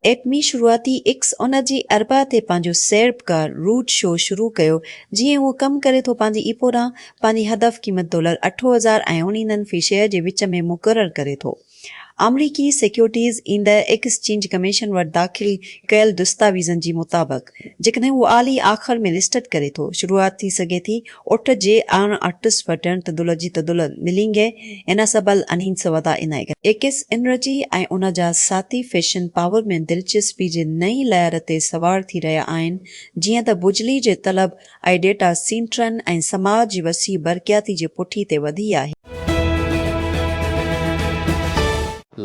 ايٽمي شروعاتي ايڪس ان جي اربع تي پنهنجو سيربڪار روٽ شو شروع ڪيو جيئن ئي اهو ڪم ڪري ٿو پنهنجي ايپو ڏانهن پنهنجي هدف قيمت ڊالر اٺ هزار ۽ اڻيندن في شيئر جي وچ ۾ مقرر ڪري ٿو. آمريڪي سيڪيورٽيز اينڊ ايڪسچينج ڪميشن وٽ داخل ڪيل دستاويزن جي مطابق جيڪڏهن هو اعلي آخر ۾ لسٽڊ ڪري ٿو شروعات ٿي سگهي ٿي اٺ جي آڻ اٽس وٽڻ تدلجي تدل ملينگي اناسبل انين سودا انائي ايڪس انرجي ۽ ان جا ساٿي فيشن پاور ۾ دلچسپي جي نئين لهر تي سوار ٿي رهيا آهن جيئن ته بجلي جي طلب اهي ڊيٽا سينٽرن ۽ سماج جي وسيع برقياتي جي پٺي تي وڌي آهي.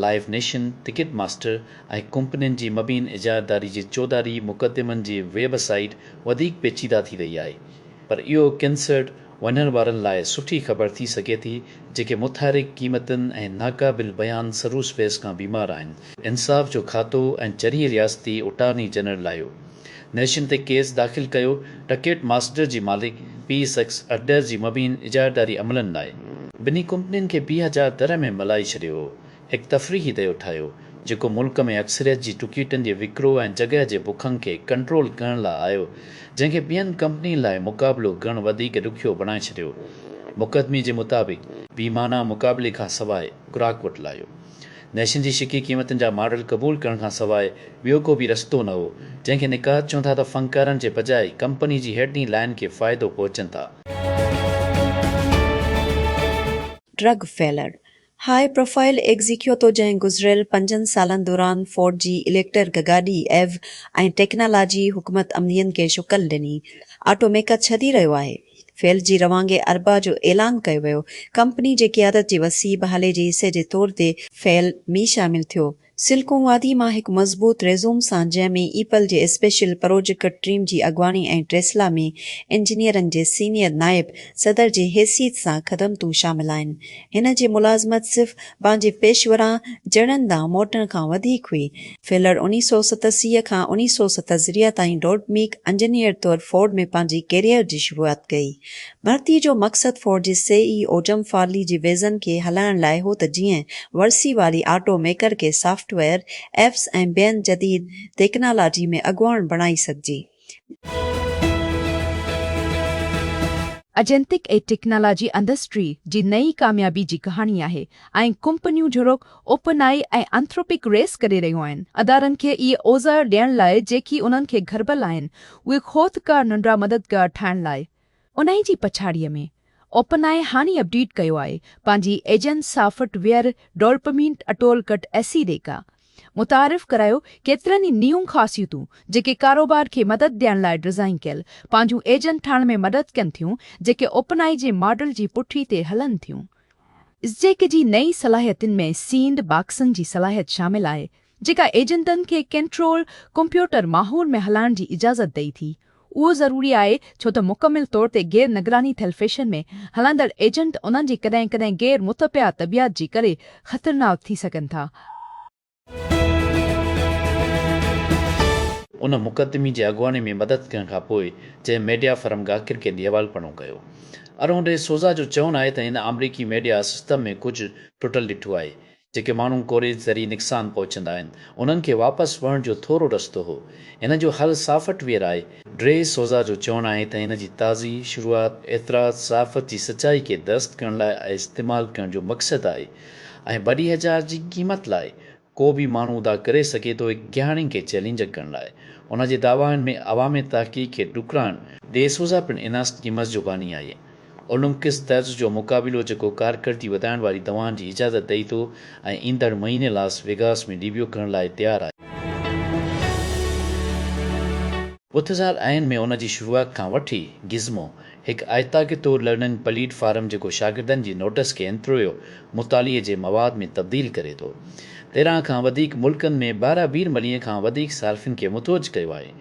لائيو نيشن، ٽڪيٽ ماسٽر ۽ ڪمپنين جي مبين اجاريداري جي چوڌاري مقدمن جي ويب سائيٽ وڌيڪ پيچيده ٿي رهي آهي پر اهو ڪنسرٽ وڃڻ وارن لاء سٺي خبر ٿي سگهي ٿي جيڪي متحرڪ قيمتن ۽ ناقابل بيان سروسپيس کان بيمار آهن. انصاف جو کاتو ۽ چريي رياستي اٽارني جنرل لاهيو. نيشن تي ڪيس داخل ڪيو، ٽڪيٽ ماسٽر جي مالڪ پي سيڪس اڊر جي مبين اجارتداري عملن لاء ٻنهي ڪمپنين کي پي هزار تر ۾ ملائي ڇڏيو هو، هڪ تفريحي ديو ٺاهيو، جيڪو ملڪ ۾ اڪثريت جي ٽڪيٽن جي وڪرو ۽ جڳهه جي بکنگ کي ڪنٽرول ڪرڻ لاء آيو، جنهن کي ٻين ڪمپنين لاء مقابلو ڪرڻ وڌيڪ ڏکيو بڻائي ڇڏيو، مقدمي جي مطابق. بي معنيٰ مقابلي کان سواء گراهڪ وٽ لاهيو. نيشن جي شڪي قيمتن جا ماڊل قبول ڪرڻ کان سواء ٻيو ڪو به رستو نه هو، جنهن کي نقاد چون ٿا ته فنڪارن جي بجاء ڪمپني جي هيڊني لائن کي فائدو پهچن ٿا. ڊرگ فيلر، هاء پروفائل ايگزيڪيوتو جنهن گذريل پنجن سالن دوران فورڊ جي اليڪٽرڪ گاڏي، ايو، ۽ ٽيڪنالاجي حڪمت عملين کي شڪل ڏني، آٽو ميڪر ڇڏي رهيو آهي. فيلڊ جي روانگي اربع جو اعلان ڪيو ويو. ڪمپني جي قيادت جي وسيع بحالي جي حصي جي طور تي فيلڊ مي شامل ٿيو. سلڪون وادي مان هڪ مضبوط ريزوم سان جنهن ۾ ايپل جي اسپيشل پروجڪٽ ٽيم جي اڳواڻي ۽ ٽيسلا ۾ انجنيئرن جي سينئر نائب صدر جي حيثيت سان خدمتون شامل آهن. هن جي ملازمت صرف پنهنجي پيشورانه جڙن ڏانهن موٽڻ کان وڌيڪ هئي. فيلر انيس سؤ ستسي کان انيس سؤ ستهزريا تائين ڊوڊ ميڪ انجنيئر طور فورڊ ۾ پنهنجي ڪيريئر جي شروعات ڪئي. ڀرتي جو مقصد فورڊ جي سي اي او جم فارلي جي ويزن کي هلائڻ لاء هو ته جيئن ورسي واري آٽو ميڪر کي سافٽ ويئر، ايپس ۽ ٻين جديد تيڪنالاجي ۾ اڳواڻ بڻائي سگهجي. اجنتڪ اي ٽيڪنالاجي انڊسٽري جي نئين ڪاميابي جي ڪهاڻي آهي ۽ ڪمپنيون جھڙوڪ اوپن آئي ۽ انٿروپڪ ريس ڪري رهيون آهن ادارن کي اهي اوزار ڏيڻ لاء جيڪي انهن کي گھربل آهن اهي خوذ ڪار ننڍڙا مددگار ٺاهڻ لاء انهيء جي پڇاڙيء ۾، اوپن آئي هاڻي اپڊيٽ ڪيو آهي پنهنجي ايجنٽ سافٽ ويئر ڊولپمينٽ اٽول ڪٽ ايسي ڏيڪا. متعارف ڪرايو ڪيترن ئي نيون خاصيتون جيڪي ڪاروبار کي مدد ڏيڻ لاء ڊزائين ڪيل پنهنجون ايجنٽ ٺاهڻ ۾ مدد ڪن ٿيون جيڪي اوپن آئي جي ماڊل جي پٺي تي هلن ٿيون. اسٽيڪ جي نئين صلاحيتن ۾ سينڊ باڪسن جي صلاحيت شامل آهي، جيڪا ايجنٽن کي ڪنٽرول ڪمپيوٽر ماحول ۾ هلائڻ جي اجازت ڏئي ٿي. اهو ضروري آهي ڇو ته مڪمل طور تي غير نگراني ٿيل فيشن ۾ هلندڙ ايجنٽ انهن جي ڪڏهن ڪڏهن غير متبعه طبيعت جي ڪري خطرناڪ ٿي سگهن ٿا. ان مقدمي جي اڳواڻي ۾ مدد ڪرڻ کان پوء جنهن ميڊيا فرم گاڪر ڪينڊي حوال پڻو ڪيو. ارون ڊي سوزا جو چوڻ آهي ته هن آمريڪي ميڊيا سسٽم ۾ ڪجهه ٽٽل ڏٺو آهي. جيڪي ماڻهو ڪوريج ذري نقصان پهچندا آهن انهن کي واپس وهڻ جو ٿورو رستو هو. هن جو حل سافٽ ويئر آهي. ڊي سوزا جو چوڻ آهي ته هن جي تازي شروعات اعتراض صحافت جي سچائي کي درست ڪرڻ لاء ۽ استعمال ڪرڻ جو مقصد آهي ۽ ٻڏي هزار جي قيمت لاء ڪو به ماڻهو ادا ڪري سگهي ٿو هڪ گهياڻين کي چئلينج ڪرڻ لاء ان جي دعوائن ۾ عوامي تحقيق کي ڏکرائڻ ڊي سوزا پڻ اناسٽ گيمز جو باني آهي. اولمپڪس طرز جو مقابلو جيڪو ڪارڪردگي وڌائڻ واري دوائن جي اجازت ڏئي ٿو ۽ ايندڙ مهيني لاس ويگاس ۾ ڊيبيو ڪرڻ لاء تيار آهي. بوٿزال آئين ۾ ان جي شروعات کان وٺي گزمو هڪ آئتاڪي طور لرننگ پليٽ فارم جيڪو شاگردن جي نوٽس کي انترويو مطالعي جي مواد ۾ تبديل ڪري ٿو تيرهن کان وڌيڪ ملڪن ۾ بارا بير مليء کان وڌيڪ صارفين کي متوجه ڪيو آهي.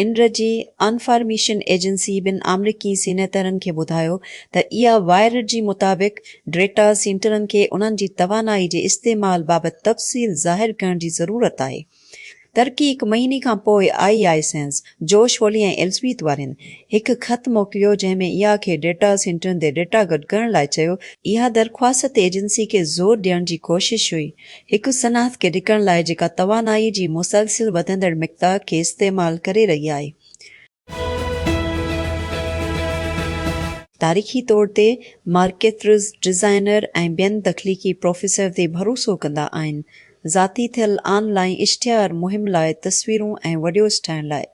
انرجي انفارميشن ايجنسي ٻن آمريڪي سينيٽرن کي ٻڌايو ته اها وائرڊ جي مطابق ڊيٽا سينٽرن کي انهن جي توانائي جي استعمال بابت تفصيل ظاهر ڪرڻ جي ضرورت آهي. ترڪي هڪ مهيني کان پوء آئي آئي سينز، جوش ولي ۽ ايلزبيٿ وارين هڪ خط موڪليو جنهن ۾ اها کي ڊيٽا سينٽرن تي ڊيٽا گڏ ڪرڻ لاء چيو، اها درخواست ايجنسي کي زور ڏيڻ جي ڪوشش هئي هڪ صنعت کي ڍڪڻ لاء جيڪا توانائي جي مسلسل وڌندڙ مقدار کي استعمال ڪري رهي آهي. تاريخي طور تي مارڪيترز، ڊزائنر ۽ ٻين تخليقي پروفيسر تي ڀروسو ڪندا آهن، ذاتي ٿيل آن لائين اشتهار مهم لاء تصويرون ۽ وڊيوز ٺاهڻ لاء.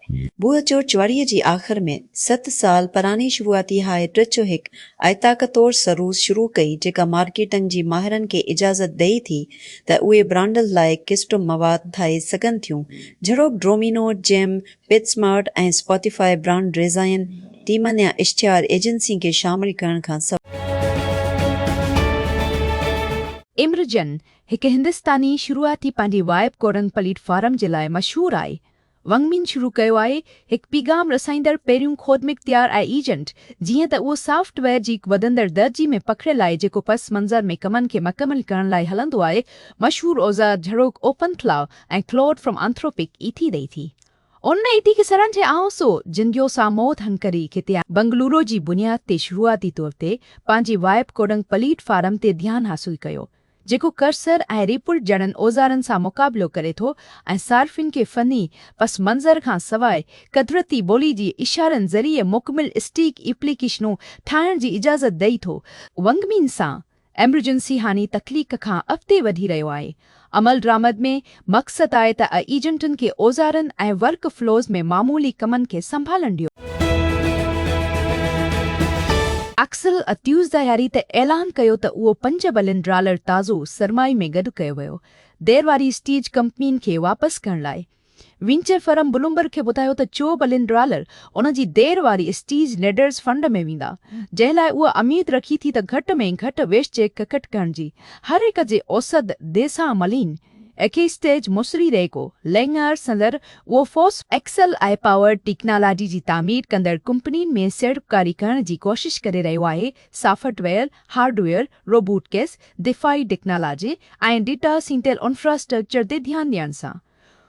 بوء چورچ واريء جي آخر ۾ ست سال پراڻي شروعاتي هاء ٽچ هڪ آئتاڪ طور سروس شروع ڪئي جيڪا مارڪيٽنگ جي ماهرن کي اجازت ڏئي ٿي ته اهي برانڊز لاء ڪسٽم مواد ٺاهي سگهن ٿيون جھڙوڪ ڊرومينو، جيم، پيٽسمارٽ ۽ اسپاتيفاء برانڊ ڊيزائين ٽيمن يا اشتهار ايجنسين کي شامل ڪرڻ کان سواء. ايمرجن هڪ هندستاني شروعاتي پنهنجي وائب ڪورنگ پليٽ فارم جي لاء مشهور آهي. ونگ مين شروع ڪيو آهي هڪ پيغام رسائيندڙ پهريون خودمختيار اي ايجنٽ جيئن ته اهو سافٽ ويئر جي هڪ وڌندڙ درجي ۾ پکڙيل آهي جيڪو پس منظر ۾ ڪمن کي مڪمل ڪرڻ لاء هلندو آهي مشهور اوزار جھڙوڪ OpenAI ۽ Claude from Anthropic ايٿي ڏئي ٿي. ان ايٿي کي سرن جي آئون سو جنگيو ساموت هنڪري کتي آهن. بنگلورو جي بنياد تي شروعاتي طور تي پنهنجي وائپ ڪوڊنگ پليٽ فارم تي ڌيان حاصل ڪيو جيڪو ڪرسر ۽ ريپولٽ جھڙن اوزارن سان مقابلو ڪري ٿو ۽ صارفين کي فني پس منظر کان سواء قدرتي ٻولي جي اشارن ذريعي مڪمل اسٽيڪ ايپليڪيشنون ٺاهڻ جي اجازت ڏئي ٿو. ونگ مين سان ايمرجنسي هاني تخليق کان اڳتي وڌي رهيو آهي. عملدرآمد ۾ مقصد آهي ته ايجنٽن کي اوزارن ۽ ورڪ فلوز ۾ معمولي ڪمن کي سنڀالڻ ڏيو. اڪسل ا تيوزدهياري تي اعلان ڪيو ته اهو پنج بلين ڊالر تازو سرمائي ۾ گڏ ڪيو ويو دير واري اسٽيج ڪمپنين کي واپس ڪرڻ لاء وينچر فرم بلومبرگ کي ٻڌايو ته چو بلين ڊالر ان جي دير واري اسٽيج نيڊرز فنڊ ۾ ويندا جنهن لاء اهو اميد رکي ٿي ته گهٽ ۾ گهٽ ويش چيڪ ڪٽ ڪرڻ جي هر هڪ جي اوسد ديسان ملين ايڪيسٽيج مصري ريڪو لينئر سندر اهو فوس ايڪسل آء پاور ٽيڪنالاجي جي تعمير ڪندڙ ڪمپنين ۾ سيڙپڪاري ڪرڻ جي ڪوشش ڪري رهيو آهي software hardware robotics دفاعي ٽيڪنالاجي ۽ ڊيٽا سينٽل انفراسٽرڪچر تي ڌيان ڏيڻ سان